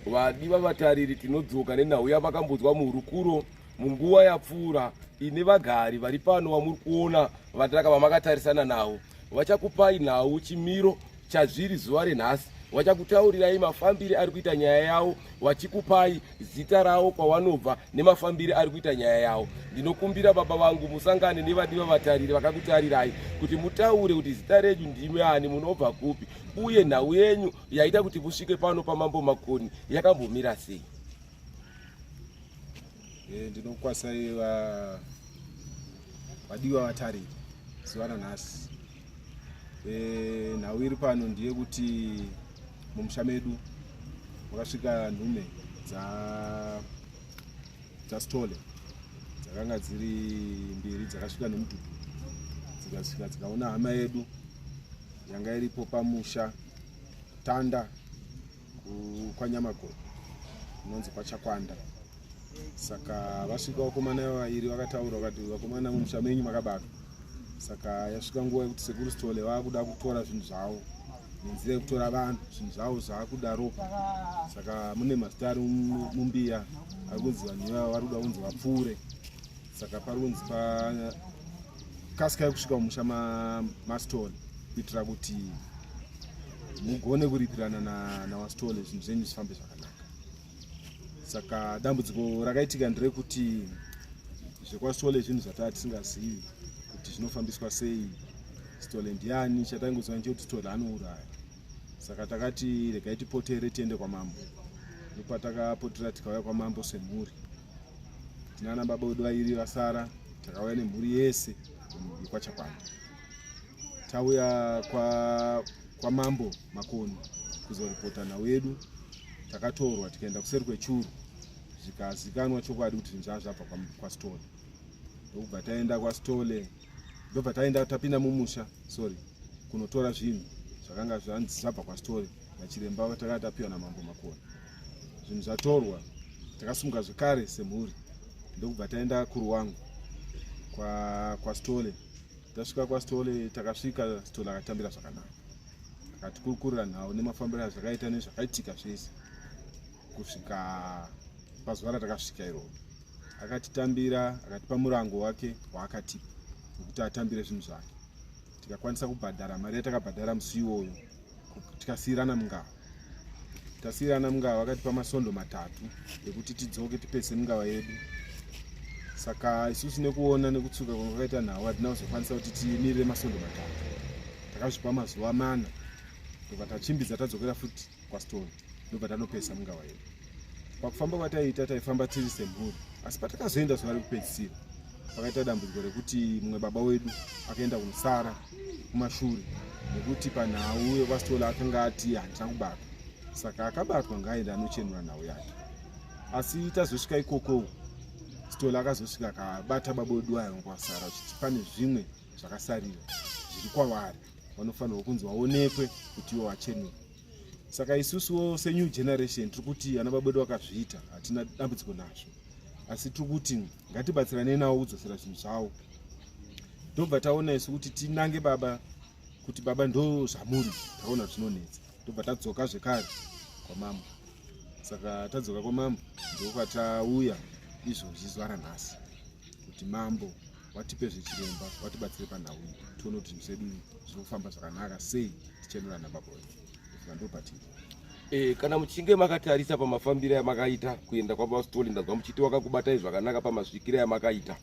vadiva vatariri tinodzoka nenhau yavakambodzwa muhurukuro munguva yapfuura ine vagari vari pano vamuri kuona vatiraka vamakatarisana navo vachakupai nhau chimiro chazviri zuva renhasi vachakutaurirai mafambiri ari kuita nyaya yavo vachikupai zita ravo kwavanobva nemafambiri ari kuita nyaya yavo ndinokumbira baba vangu musangane nevadiva vatariri vakakutarirai kuti mutaure kuti zita renyu ndimi ani munobva kupi uye nhau yenyu yaita kuti vusvike pano pamambo makoni yakambomira sei eh, ndinokwasai vadiwa vatariri zuva nanhasi eh, nhau iri pano ndiye kuti mumusha medu makasvika nhume dzastole dzakanga dziri mbiri dzakasvika nemudhudhu dzikasvika dzikaona hama yedu yanga iripo pamusha Tanda kwaNyamakoro kunonzi kwaChakwanda. Saka vasvika vakomana vaviri vakataura vakati vakomana mumusha menyu makabatwa. Saka yasvika nguva yekuti sekuru Sithole vakuda kutora zvinhu zvavo nenzira yekutora vanhu zvinhu zvavo zvakuda ropa. Saka mune mazita ari mumbiya ari kunzi vanhu ivavo vari kuda kunzi vapfuure. saka parunzi pakasikai kusvika mumusha mastole kuitira kuti mugone kuripirana nawastole zvinhu zvenyu zvifambe zvakanaka saka dambudziko rakaitika nderekuti zvekwastole zvinhu zvataa tisingazivi kuti zvinofambiswa sei stole ndiani chataingoziva nechekuti stole anouraya saka takati regai tipotere tiende kwamambo ndopatakapotera tikauya kwamambo semhuri tinana baba vedu vairi vasara takauya nemhuri yese yekwachakwana tauya kwamambo kwa makoni kuzoripota nhau yedu takatorwa tikaenda kuseri kwechuru zvikazikanwa chokwadi kuti zvinzvaa zvabva kwastole ndokubva taenda kwastole ndobva taenda tapinda mumusha sorry kunotora zvinhu zvakanga zvanzi zvabva kwastole nachiremba takanga tapiwa namambo makoni zvinhu zvatorwa takasumuka zvekare semhuri ndokubva taenda kuruwangu kwastole tasvika kwastole takasvika stole akatambira zvakanaka akatikurukurira nhau nemafambiro azvakaita nezvakaitika zvese kusvika pazuva ratakasvika iroo akatitambira akatipa murango wake waakatipa wekuti atambire zvinhu zvake tikakwanisa kubhadhara mari yatakabhadhara musi iwoyo tikasiirana mungava tasiirana mungava vakatipa masondo matatu ekuti tidzoke tipese mungava yedu saka isusu nekuona nekutsuka kwanga kwakaita nhau hatina kuzokwanisa kuti timirire masondo matatu takazvipa mazuva mana ndobva tachimbidza tadzokera futi kwastone ndobva tanopesa mungava yedu pakufamba kwataiita taifamba tiri semhuri asi patakazoenda zuva rekupedzisira pakaita dambudziko rekuti mumwe baba wedu akaenda kumusara kumashure nekuti panhau yevasitola akanga ati handina kubatwa saka akabatwa ngaaenda anochenura nhau yake asi tazosvika ikoko sitola akazosvika akabata baboduwayo kwasara uchiti pane zvimwe zvakasarira zviri kwavari vanofanirwa kunzi vaonekwe kuti ivo vachenura saka isusuwo senew generation tiri kuti ana babodu vakazviita hatina dambudziko nazvo asi tiri kuti ngatibatsiranei nawo kudzosera zvinhu zvawo ndobva taona isu kuti tinange baba kuti baba ndo zvamuri taona zvinonetsa ndobva tadzoka zvekare kwamambo saka tadzoka kwamambo ndokwatauya izvozvi zuva ranhasi kuti mambo watipe zvechiremba watibatsire panhau iyi tione kuti zvinhu zvedu zviri kufamba zvakanaka sei tichenurana baba wedu E, kana muchinge makatarisa pamafambiro amakaita kuenda kwababa Sithole ndanzwa muchiti wakakubatai zvakanaka pamasvikiro amakaita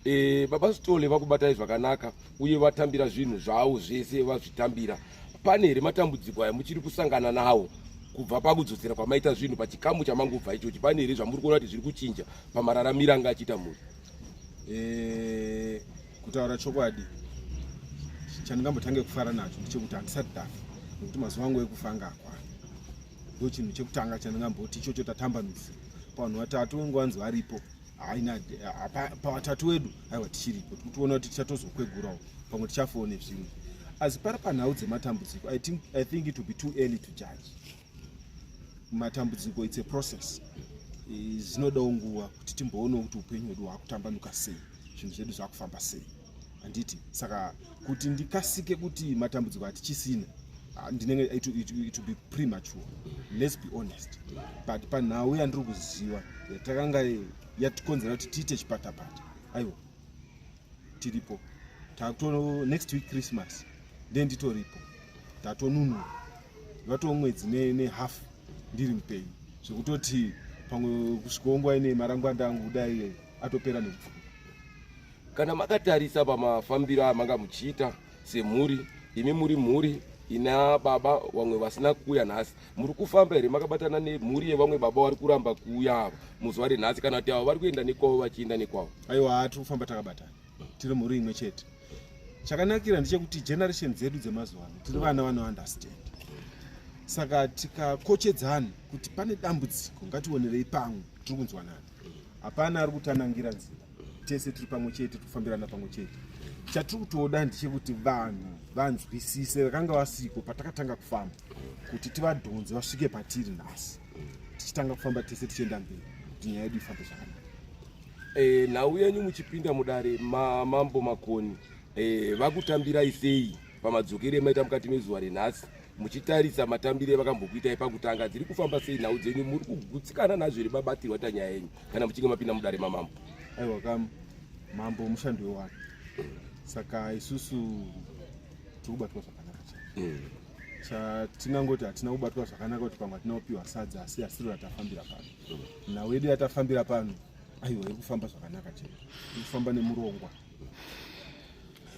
e, baba Sithole vakubatai zvakanaka uye vatambira zvinhu zvavo zvese vazvitambira pane here matambudziko aya muchiri kusangana nawo kubva pakudzosera kwamaita zvinhu pachikamu chamangubva ichochi pane here zvamuri kuona kuti zviri kuchinja pamararamiro anga achiita mhuri eh, kutaura chokwadi chandingambotange kufara nacho ndechekuti handisati dafa nekuti mazuva angu ekufa anga akwana ndo chinhu chekutanga chandingamboti ichocho tatambanudza pavanhu vatatu wengu vanzi varipo haina pavatatu wedu aiwa tichiripo tiri kuona kuti tichatozokwegurawo pamwe tichafowo nezvimwe asi pari panhau dzematambudziko i think it will be too early to judge matambudziko its a process zvinodawo nguva kuti timboonewo kuti upenyu hwedu hwakutambanuka sei zvinhu zvedu zvakufamba sei handiti saka kuti ndikasike kuti matambudziko hatichisina ah, ndinenge it, it, it be premature let's be honest but panhau yandiri kuziva yatakanga yatikonzera kuti tiite chipatapata aiwa tiripo tato next week christmas then nditoripo tatonunura vatoo mwedzi nehalf ne ndiri mupenyu zvekutoti pamwe kusvikongwa ine marangwanda angu kudai atopera nekupfuka kana makatarisa pamafambiro amanga muchiita semhuri imi muri mhuri ina baba vamwe vasina kuuya nhasi muri kufamba here makabatana nemhuri yevamwe baba vari kuramba kuuya ava muzuva renhasi kana kuti avo vari kuenda nekwavo vachienda nekwavo aiwa haa tiri kufamba takabatana tiri mhuri imwe chete chakanakira ndechekuti generation dzedu dzemazuva ano tiri vana vanounderstand saka tikakochedzana kuti pane dambudziko ngationerei pamwe tiri kunzwanana hapana ari kutanangira nzira tese tiri pamwe chete tiri kufambirana pamwe chete chatiri kutoda ndechekuti vanhu vanzwisise vakanga vasiko patakatanga kufamba kuti tivadhonze vasvike patiri nhasi tichitanga kufamba tese tichienda mberi kuti nyaya yedu ifambe zvakanaka e, nhau yenyu muchipinda mudare mamambo makoni e, vakutambirai sei pamadzokero emaita mukati mezuva renhasi muchitarisa matambire vakambokuitai pakutanga dziri kufamba sei nhau dzenyu muri kugutsikana nazvo here babatirwa ta nyaya yenyu kana muchinge mapinda mudare mamambo aiwa kam mambo mushandi wewani saka isusu tiri kubatwa zvakanaka mm. chatingangoti hatina kubatwa zvakanaka kuti pamwe hatina kupiwa sadza asi asiro ratafambira pano nhau yedu yatafambira pano aiwa iri kufamba zvakanaka chete iri kufamba nemurongwa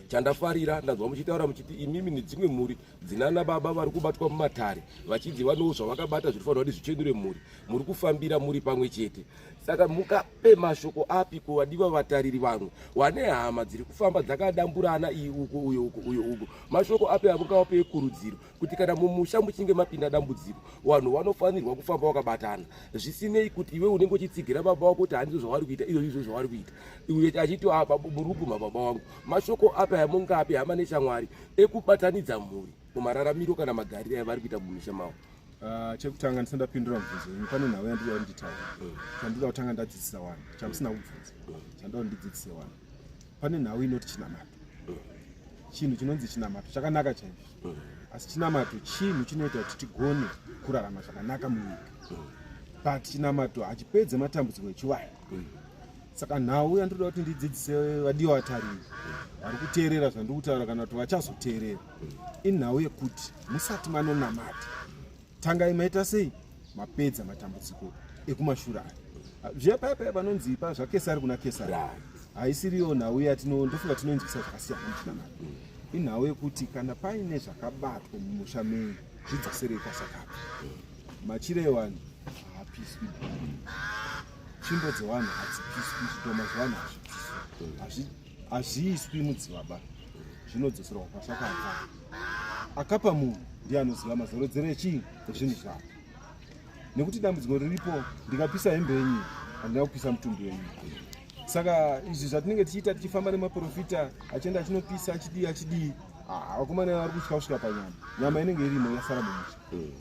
chandafarira ndanzwa muchitaura muchiti imimi nedzimwe mhuri dzinana baba vari kubatwa mumatare vachinzi vanowo zvavakabata zviri fanira kuti zvichenure mhuri muri kufambira muri pamwe chete saka muka pe mashoko api kuvadiwa vatariri vangu wane hama dziri kufamba dzakadamburana iyi uko uyo uko uyo uko mashoko api akungawape ekurudziro kuti kana mumusha muchinge mapinda dambudziko vanhu vanofanirwa kufamba vakabatana zvisinei kuti iwe unenge uchitsigira baba wako kuti handizvo zvavari kuita izvo izvo zvavari kuita uye achiti apa muri kuguma baba wangu mashoko api amungapi hama neshamwari ekubatanidza mhuri mumararamiro kana magariro avari kuita mumisha mavo Ah, chekutanga ndisina ndapindura mubvunzo imwe pane nhau yandiri yari nditaura chandoda kutanga ndadzidzisa wani chamusina kubvunza chandoda ndidzidzise wani pane nhau inoti chinamato chinhu chinonzi chinamato chakanaka chaizvo asi chinamato chinhu chinoita kuti tigone kurarama zvakanaka munyika but chinamato hachipedze matambudziko echiwaya saka nhau yandinoda kuti ndidzidzise vadiwa vatariri vari kuteerera zvandiri kutaura kana kuti vachazoteerera inhau yekuti musati manonamata tangai maita sei mapedza matambudziko ekumashura aya zviya paya paya panonzi pa zvakesari kuna kesari haisiriyo nhau yatino ndofunga tinoinzwisa zvakasiyana muchinamata inhau yekuti kana paine zvakabatwa mumusha menyu zvidzoserei kwasakapa machire ewanhu haapiswi tsvimbo dzewanhu hadzipiswi zvitoma zvewanhu hazvipiswi hazviiswi mudzibaba zvinodzoserwa kwasakabva akapa munhu ndiye anoziva mazorodzero echii ezvinhu zvavo nekuti dambudziko riripo ndikapisa hembe yenyu handina kupisa mutumbi wenyu saka izvi zvatinenge tichiita tichifamba nemaprofita achienda achinopisa achidii achidii vakomana vari kutya kusvika panyama nyama inenge irimo yasara mumusha hmm.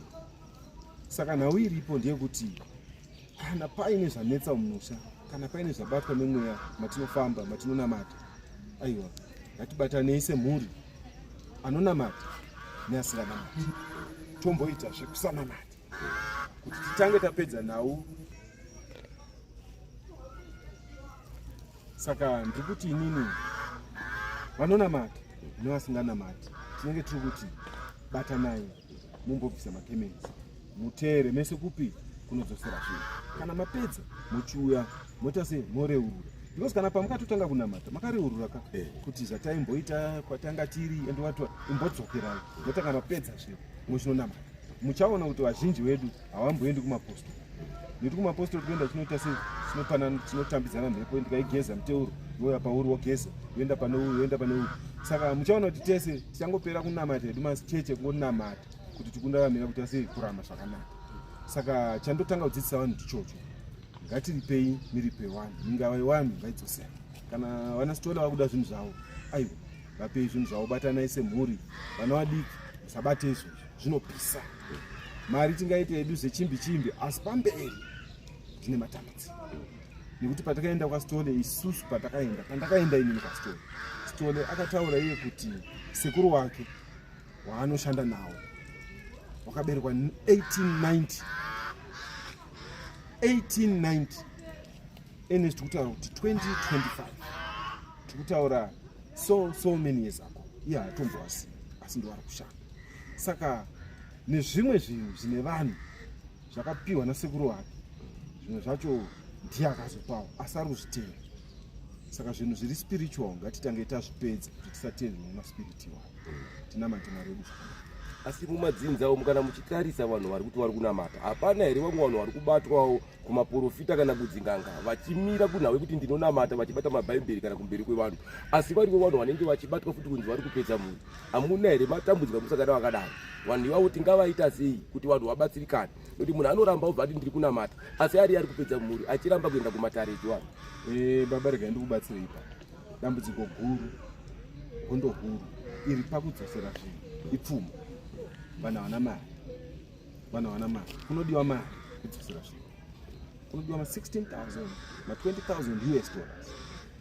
saka nhau iripo ndeyekuti Kana paine zvanetsa mumusha, kana paine zvabatwa nemweya matinofamba, matinonamata, aiwa ngatibatanei semhuri anonamata neasinganamati, tomboita zvekusanamata kuti titange tapedza nhau. Saka ndiri kuti inini vanonamata nevasinganamati tinenge tiri kuti batanai. mumbobvisa makemenzi muteere mese kupi kunodzosera zvinhu kana mapedza mochiuya moita sei moreurura because kana pamukatotanga kunamata makareurura ka eh. kuti zvataimboita kwatanga tiri and wati imbodzokerai motanga mapedza zvinhu mochinonamata muchaona kuti vazhinji vedu hawamboendi kumaposto nekuti kumaposto tinoenda tinoita sei tinopana tinotambidzana mhepo ndikaigeza muteuro yoya pauri wogeza yoenda pane uyu yoenda pane uyu saka muchaona kuti tese tichangopera kunamata hedu macheche kungonamata kuti tikundaramira kuita sei kurama zvakanaka saka chandotanga kudzidzisa vanhu ndichocho ngatiripei miripe wani ingava iwani ngaidzosera kana vana sitola vakuda zvinhu zvavo aiwa vapei zvinhu zvavo batanai semhuri vana vadiki musabate izvozvo zvinopisa mari tingaite yedu zvechimbi chimbi asi pamberi tine matambudziko nekuti patakaenda kwastole isusu patakaenda pandakaenda inini kwastole stole akataura iye kuti sekuru wake waanoshanda nawo wakaberekwa 1890 1890 ene zvitikutaura kuti 2025 tikutaura so so many years ago iye haatombowasi asi ndiwari kushanda saka nezvimwe zvinhu zvine vanhu zvakapiwa nasekuru wake zvimwe zvacho ndiye akazopawo asi ari kuzvitenda saka zvinhu zviri spiritual ngatitange tazvipedza kuti tisatende zvimwe maspiriti iwayo tinamate mwari wedu asi mumadzinza umu kana muchitarisa vanhu vari kuti vari kunamata hapana here vamwe vanhu vari kubatwawo kumaporofita kana kudzinganga vachimira kunhawe kuti ndinonamata vachibata mabhaibheri kana kumberi kwevanhu asi varivo vanhu vanenge vachibatwa futi kunzi vari kupedza mhuri amuna here matambudzika musakada vakadaro vanhu ivavo tingavaita sei kuti vanhu vabatsirikane nokuti munhu anoramba obva ati ndiri kunamata asi ari ari kupedza mhuri achiramba kuenda kumatare echivanhu eh, baba regai ndikubatsira ipa dambudziko guru hondo huru iri pakudzosera zvinhu ipfuma vanhu havana mari vanhu havana mari kunodiwa mari kudzosera zvinhu kunodiwa ma 16000 ma 20000 us dollars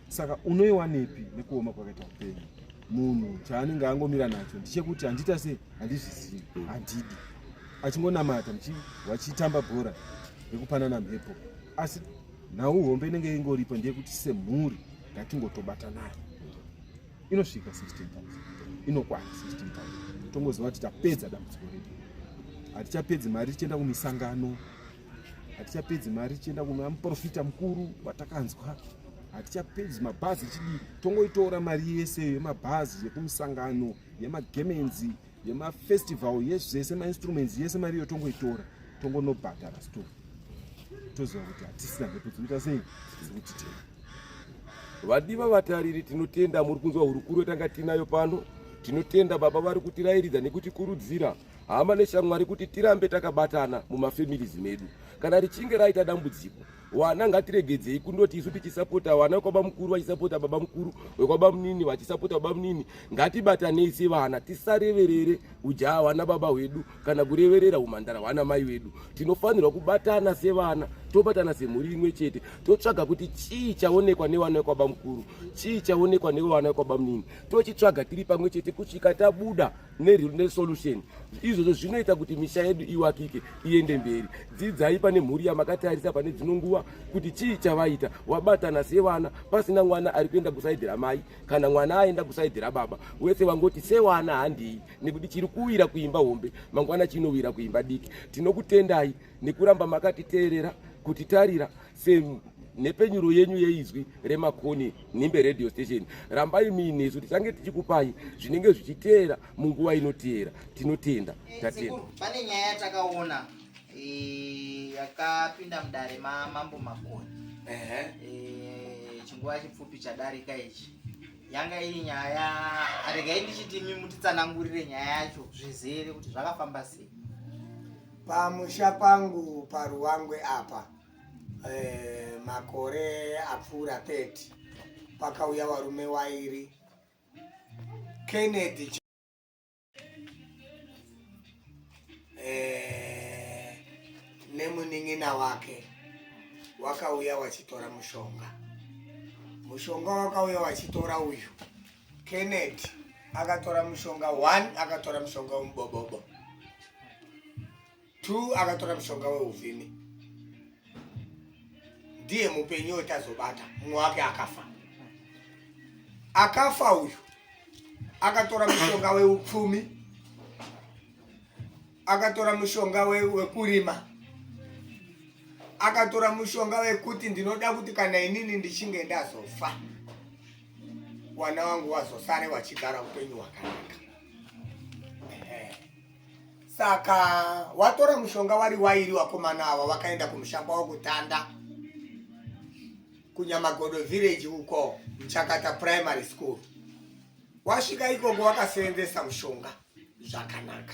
saka unoiwanepi nekuoma kwakaita upenyu munhu chaanenge angomira nacho ndichekuti handita sei handizvizivi handidi achingonamata vachitamba bhora rekupanana mhepo asi nhau hombe inenge ingoripo ndeyekuti semhuri ngatingotobatanai inosvika 16 inokwana 16 tongoziva kuti tapedza dambudziko redu hatichapedzi mari tichienda kumisangano hatichapedzi mari tichienda kuna muprofita mukuru watakanzwa hatichapedzi mabhazi chidii tongoitora mari yese yemabhazi yekumisangano yemagemenzi yemafestival yezvese mainstruments yese mari iyo tongoitora tongonobhadhara store toziva kuti hatisina mhepo dzinoita sei dzekutitema vadiva vatariri tinotenda muri kunzwa hurukuro yatanga tiinayo pano tinotenda baba vari kutirairidza nekutikurudzira hama neshamwari kuti tirambe takabatana mumafamilies medu kana richinge raita dambudziko wana ngatiregedzei kundoti isu tichisapota wana wekwaba mukuru vachisapota baba mukuru wekwaba munini vachisapota baba munini ngatibatanei sevana tisareverere ujaa hwana baba hwedu kana kureverera umhandara hwana mai vedu tinofanirwa kubatana sevana tobatana semhuri imwe chete totsvaga kuti chii chaonekwa newana wekwaba mukuru chii chaonekwa newevana wekwaba munini tochitsvaga tiri pamwe chete kusvika tabuda nesolution izvozvo zvinoita kuti misha yedu iwakike iende mberi dzidzai pane mhuri yamakatarisa pane dzino nguva kuti chii chavaita wabatana sevana pasina mwana ari kuenda kusaidhi ramai kana mwana aenda kusaidhi rababa wese wangoti sewana handii nekuti chiri kuwira kuimba hombe mangwana chinowira kuimba diki tinokutendai nekuramba makatiteerera kutitarira senhepenyuro yenyu yeizwi remakoni nhimbe radio station rambai muinesu tichange tichikupai zvinenge zvichiteera munguva inoteera tinotenda tatenda pane nyaya yatakaona eh, yakapinda mudare mamambo makoni eh, chinguva chipfupi chadarika ichi yanga iri nyaya aregai ndichiti imi mutitsanangurire nyaya yacho zvizere kuti zvakafamba sei pamusha pangu paruwangwe apa eh, makore apfuura 30 pakauya varume wairi Kennedy eh, nemunin'ina wake wakauya wachitora mushonga mushonga wakauya wachitora uyu Kennedy akatora mushonga one akatora mushonga wemubobobo Two akatora mushonga weuvhimi ndiye mupenyu wetazobata mumwe wake akafa akafa uyu akatora mushonga weupfumi akatora mushonga wekurima we akatora mushonga wekuti ndinoda kuti kana inini ndichinge ndazofa wana wangu wazosare wachigara upenyu hwakanaka Saka watora mushonga wari wairi wakomana ava wakaenda kumusha kwavo kutanda kunyamagodo village uko mchakata primary school wasvika ikoko wakaseenzesa mushonga zvakanaka